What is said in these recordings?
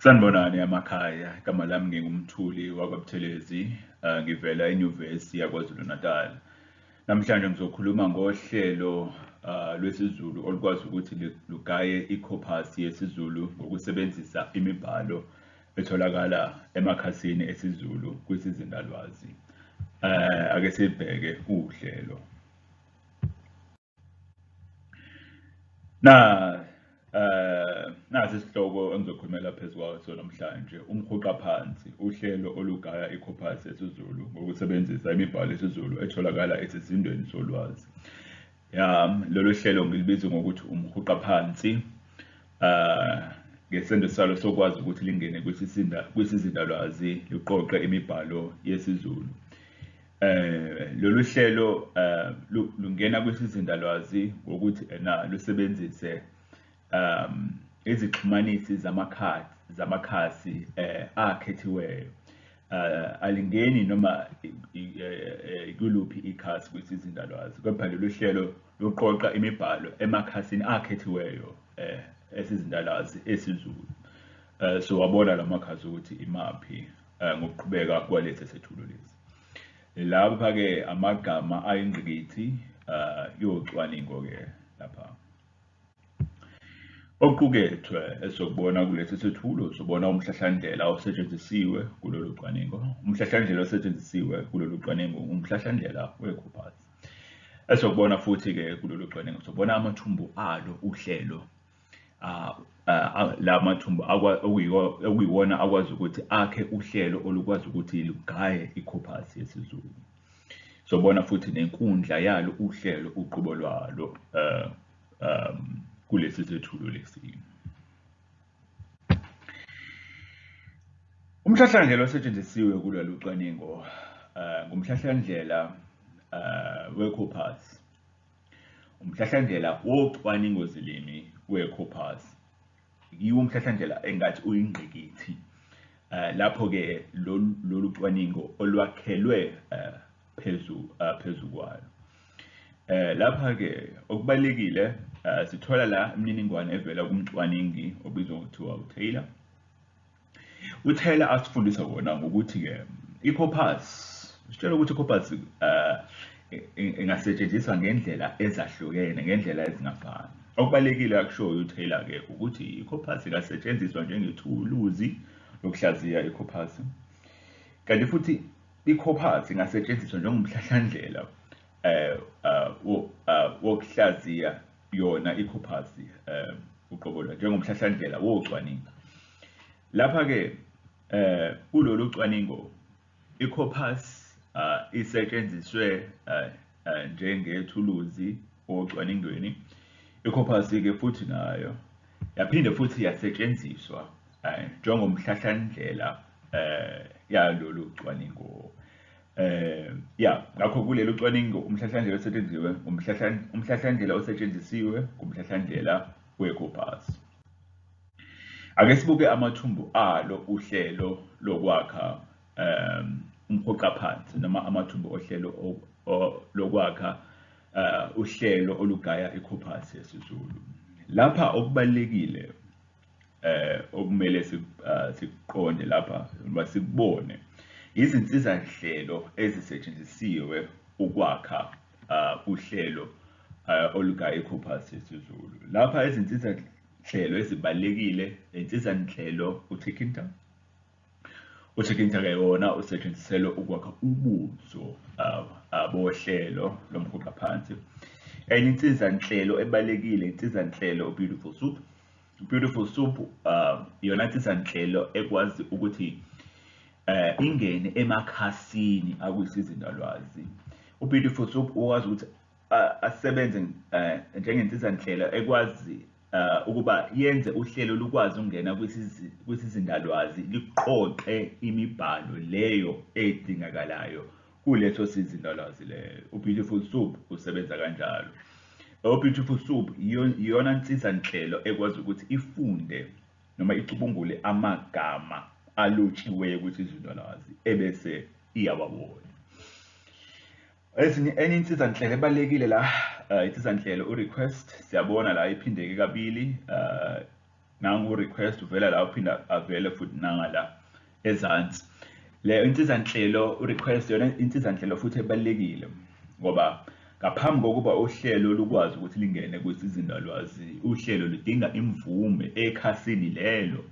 Sanibonani amakhaya, igama lami ngingumthuli wakwaButhelezi, uh, ngivela enyuvesi yaKwaZulu-Natal. Namhlanje ngizokhuluma ngohlelo uh, lwesiZulu olukwazi ukuthi lugaye ikhophasi yesiZulu ngokusebenzisa imibhalo etholakala emakhasini esiZulu kwisizindalwazi. Uh, ake sibheke uhlelo. Na eh nazi isihloko engizokhulumela phezulu kwaso namhlanje umhuqa phansi uhlelo olugaya icorpus yesiZulu ngokusebenzisa imibhalo yesiZulu etholakala esizindweni solwazi. Ya lolu hlelo ngilibiza ngokuthi umhuqa phansi eh ngesenzo salo sokwazi ukuthi lingene kwisizinda kwisizindalwazi liqoqe imibhalo yesiZulu. Eh lolu hlelo eh lungena kwisizindalwazi ngokuthi ena lusebenzise um izixhumanisi zamakhadi zamakhasi eh akhethiweyo eh alingeni noma kuluphi ikhasi kwisizindalwazi kepha lolu hlelo luqoqa imibhalo emakhasini akhethiweyo eh esizindalwazi esiZulu eh so wabona lamakhasi ukuthi imaphi ngokuqhubeka kwalesi sethulo lesi Lapha ke amagama ayingqikithi uh, yocwaningo ke lapha okuqukethwe esokubona kulesi sethulo sobona umhlahlandlela osetshenzisiwe kulolu cwaningo umhlahlandlela osetshenzisiwe kulolu cwaningo umhlahlandlela wekhophathi esokubona futhi-ke kulolu cwaningo sobona amathumbu alo uhlelo ah, ah, la mathumbu okuyiwona akwazi ukuthi akhe uhlelo olukwazi ukuthi lugaye ikhophasi yesiZulu sobona futhi nenkundla yalo uhlelo uqobo lwalo um um kulesi sethulo lesi umhlahlandlela osetshenzisiwe kulolu cwaningo um ngumhlahlandlela um wecopas Umhlahlandlela wocwaningozilimi weCoopers yiwo umhlahlandlela engathi uyingqikithi Eh, lapho-ke lolu cwaningo olwakhelwe eh, phezu eh, phezu kwalo lapha-ke okubalulekile sithola la imininingwane evela kumcwaningi obizwa ngokuthiwa utaylor UTaylor asifundisa kona ngokuthi-ke i-corpus sitshela ukuthi i-corpus um eh, ingasetshenziswa ngendlela ezahlukene ngendlela ezingafani okubalulekile akushoyo uTaylor-ke ukuthi i-corpus ingasetshenziswa njengethuluzi lokuhlaziya i-corpus kanti futhi i-corpus ingasetshenziswa njengomhlahlandlela um wokuhlaziya yona ikhophasi um uqobo lwayo njengomhlahlandlela wocwaningo lapha-ke um kulolu cwaningo ikhophasi um isetshenziswe um njengethuluzi ocwaningweni ikhophasi-ke futhi nayo yaphinde futhi yasetshenziswa um njengomhlahlandlela um yalolu cwaningo Eh ya ngakho kulelo cwaningo umhlahlandlela osetshenzisiwe umhlahlandlela osetshenzisiwe kumhlahlandlela weCopas. Ake sibuke amathumbu alo uhlelo lokwakha um umhoxa phansi noma amathumbu ohlelo lokwakha uh, uhlelo olugaya iCopas yesiZulu. Lapha okubalekile eh okumele ah, sikuqonde lapha uma sikubone izinsiza nhlelo ezisetshenzisiwe ukwakha ah, uhlelo ah, olugaye iCopas yesiZulu lapha izinsiza nhlelo ezibalekile insiza nhlelo uThikinta UChicken Chaka yona usetshenziselwe ukwakha ubuso uh, uh, bohlelo lomhuqa phansi. Enye insizanhlelo ebalekile insizanhlelo uBeautiful Soup. Beautiful Soup uh, yona insizanhlelo ekwazi ukuthi eh ingene emakhasini akusiza indalwazi. UBeautiful Soup ukwazi ukuthi asebenze njengensizanhlelo ekwazi uh, ukuba yenze uhlelo lukwazi ukungena kwisizindalwazi liqoqe imibhalo leyo edingakalayo kuleso sizindalwazi leyo ubeautiful soup usebenza kanjalo ubeautiful soup iyona nsiza nhlelo ekwazi ukuthi ifunde noma icubungule amagama alotshiweyo kwisizindalwazi ebese iyawabona Ezinye enye insiza nhlelo ebalekile la uh, insiza nhlelo u request siyabona la iphindeke kabili uh, nangu request uvela la uphinda avele futhi nanga la ezansi le insiza nhlelo u request yona insiza nhlelo futhi ebalekile ngoba ngaphambi kokuba uhlelo lukwazi ukuthi lingene kwisizindalwazi uhlelo ludinga imvume ekhasini lelo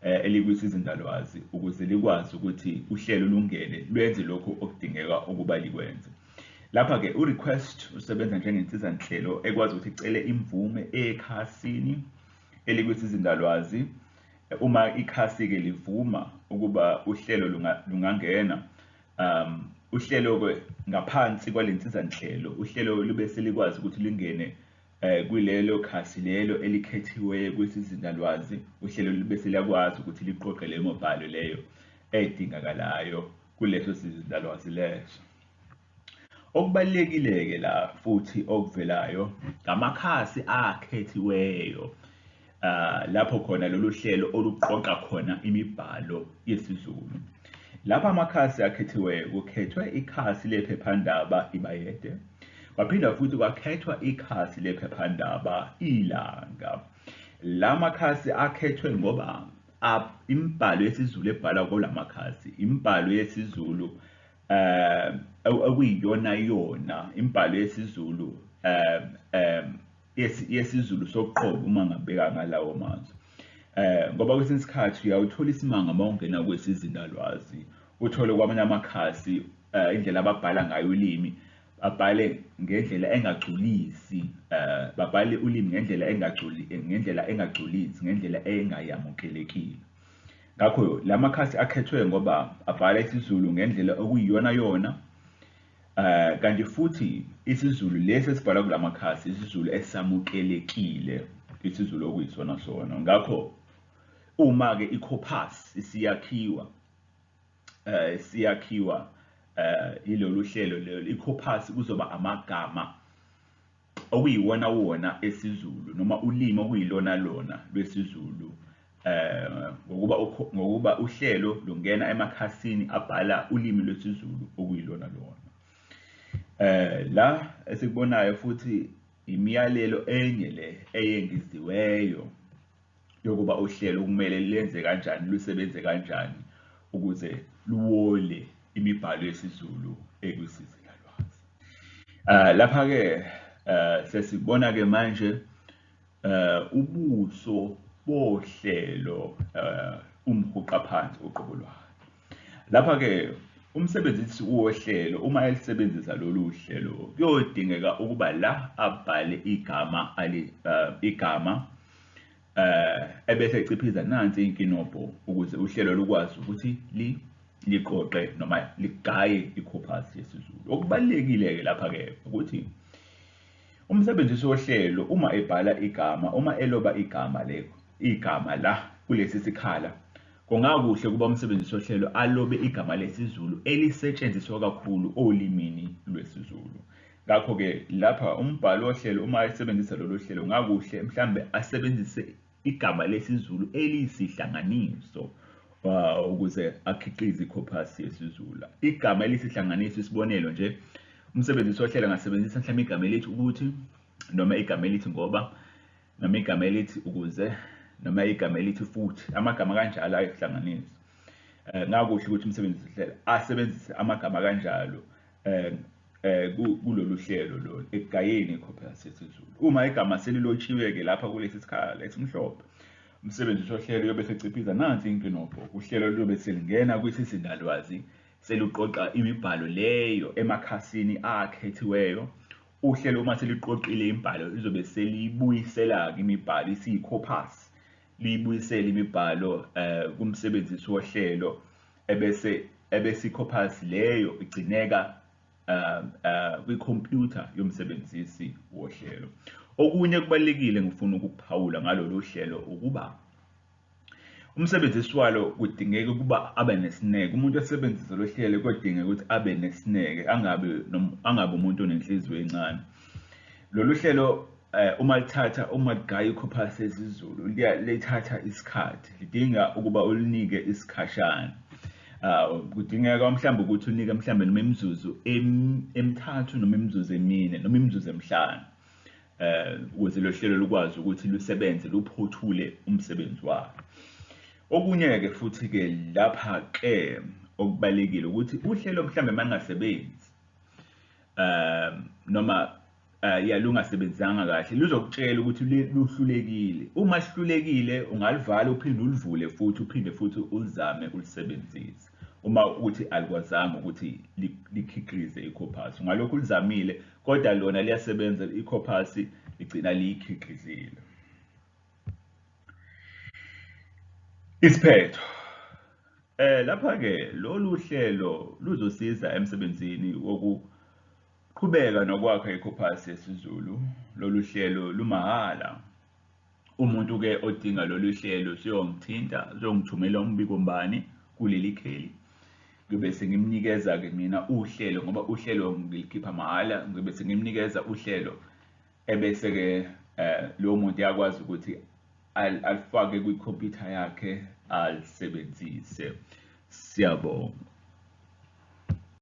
eh, elikwisizinzalwazi ukuze likwazi ukuthi uhlelo lungene lwenze lokhu okudingeka ukuba likwenze. Lapha-ke u-request usebenza njengensizanhlelo ekwazi ukuthi icele imvume ekhasini elikwisizinzalwazi uma ikhasi-ke livuma ukuba uhlelo lungangena um uhlelo-ke ngaphansi kwale nsizanhlelo uhlelo lube selikwazi ukuthi lingene Kulelo khasi lelo elikhethiweyo kwisizinda-lwazi, uhlelo lube seliyakwazi ukuthi liqoqe leyo mibhalo leyo edingakalayo kuleso sizinda-lwazi leso. Okubalulekile-ke la futhi okuvelayo ngamakhasi akhethiweyo uh, lapho khona lolu hlelo oluqoqa khona imibhalo yesiZulu lapha amakhasi akhethiweyo kukhethwe ikhasi lephephandaba ibayede kwaphinda futhi kwakhethwa ikhasi lephephandaba ilanga la makhasi akhethwe ngoba imibhalo yesiZulu ebhalwa kula makhasi imibhalo yesiZulu um okuyiyona yona imibhalo yesiZulu um um yesiZulu soqobo uma ngabheka ngalawo mazwi eh ngoba kwesinye isikhathi uyawuthola isimanga uma ungena kwesizindalwazi uthole kwamanye amakhasi eh, indlela ababhala ngayo ulimi babhale ngendlela engagculisi eh babhale ulimi ngendlela engagculi ngendlela engagculisi ngendlela engayamukelekile ngakho lamakhasi akhethwe ngoba abhala isiZulu ngendlela okuyiyona yona Eh kanti futhi isiZulu lesi esibhala kulamakhasi isiZulu esamukelekile isiZulu okuyisona sona ngakho uma ke iCopas isiyakhiwa eh siyakhiwa eh ilolu hlelo lelo iCopas kuzoba amagama okuyiwonawona esiZulu noma ulimi okuyilonalona lwesiZulu um ngokuba uhlelo lungena emakhasini abhala ulimi lwesiZulu okuyilonalona. Eh la esikubonayo futhi imiyalelo enye le eyengeziweyo yokuba uhlelo kumele lenze kanjani lusebenze kanjani ukuze luwole imibhalo yesiZulu ekwisizila lwazi. Uh, Lapha-ke uh, sesibona-ke manje uh, ubuso bohlelo uh, umhuqa phansi uqobo lwayo. Lapha-ke umsebenzisi wohlelo uma elisebenzisa lolu hlelo kuyodingeka ukuba la abhale igama ali uh, igama uh, ebese eciphiza nansi inkinobho ukuze uhlelo lukwazi ukuthi li liqoqe noma ligaye i-corpus yesiZulu okubalekile-ke lapha-ke ukuthi umsebenzisi wohlelo uma ebhala igama uma eloba igama le igama la kulesi sikhala Kungakuhle ukuba umsebenzisi wohlelo alobe igama lesiZulu elisetshenziswa kakhulu olimini lwesiZulu. Ngakho-ke lapha umbhali wohlelo uma esebenzisa lolu hlelo ngakuhle mhlawumbe asebenzise igama lesiZulu eliyisihlanganiso uh, ukuze akhiqize ikhophasi yesiZulu. Igama elisihlanganiso isibonelo nje umsebenzisi wohlelo angasebenzisa mhlawumbe igama elithi ukuthi noma igama elithi ngoba noma igama elithi ukuze noma igama elithi futhi amagama kanjalo ayohlanganiswa eh, ngakuhle ukuthi umsebenzi uhlela asebenzise amagama kanjalo eh, eh, kulolu hlelo lolu ekugayeni ikhophela sesizulu uma igama selilotshiwe-ke lapha kulesi sikhala esimhlophe umsebenzi usohlelo uyobe seciphiza nansi inkinobho uhlelo luyobe selingena kwisizindalwazi seluqoqa imibhalo leyo emakhasini akhethiweyo Uhlelo uma seliqoqile imibhalo lizobe seliyibuyisela-ke imibhalo isiyikhophasi liyibuyisele imibhalo um kumsebenzisi wohlelo ebese ebese ikhophasi leyo igcineka um um kwikhompyutha yomsebenzisi wohlelo. Okunye okubalulekile engifuna ukukuphawula ngalolu hlelo ukuba. Umsebenzisi walo kudingeka ukuba abe nesineke. Umuntu osebenzisa lo hlelo kodingeka ukuthi abe nesineke, angabi angabi umuntu onenhliziyo encane. Lolu hlelo eh, uma lithatha uma ligaya ikhophasi esiZulu lithatha isikhathi, lidinga ukuba ulinike isikhashana. Ah, kudingeka mhlawumbe ukuthi unike mhlawumbe noma imizuzu emithathu noma imizuzu emine noma imizuzu emihlanu. um ukuze lo hlelo lukwazi ukuthi lusebenze luphothule umsebenzi walo okunye-ke futhi-ke lapha-ke okubalekile ukuthi uhlelo mhlawumbe mangasebenzi um noma um ya lungasebenzanga kahle luzokutshela ukuthi luhlulekile uma sihlulekile ungalivali uphinde ulivule futhi uphinde futhi ulizame ulisebenzise uma ukuthi alikwazanga ukuthi likhiqize ikhophathi ngalokho ulizamile kodwa lona liyasebenza ikhophasi ligcina liyikhiqizile isiphetho eh lapha ke lolu hlelo luzosiza emsebenzini wokuqhubeka nokwakha ikhophasi yesiZulu lolu hlelo lumahhala Umuntu ke odinga lolu hlelo usuyongithinta, usuyongithumela umbiko mbani kuleli kheli. Ngiyobe sengimnikeza-ke mina uhlelo ngoba uhlelo ngilikhipha mahhala, ngiyobe sengimnikeza uhlelo ebese-ke um lowo muntu uyakwazi ukuthi alifake kwikhompyutha yakhe alisebenzise. Siyabonga.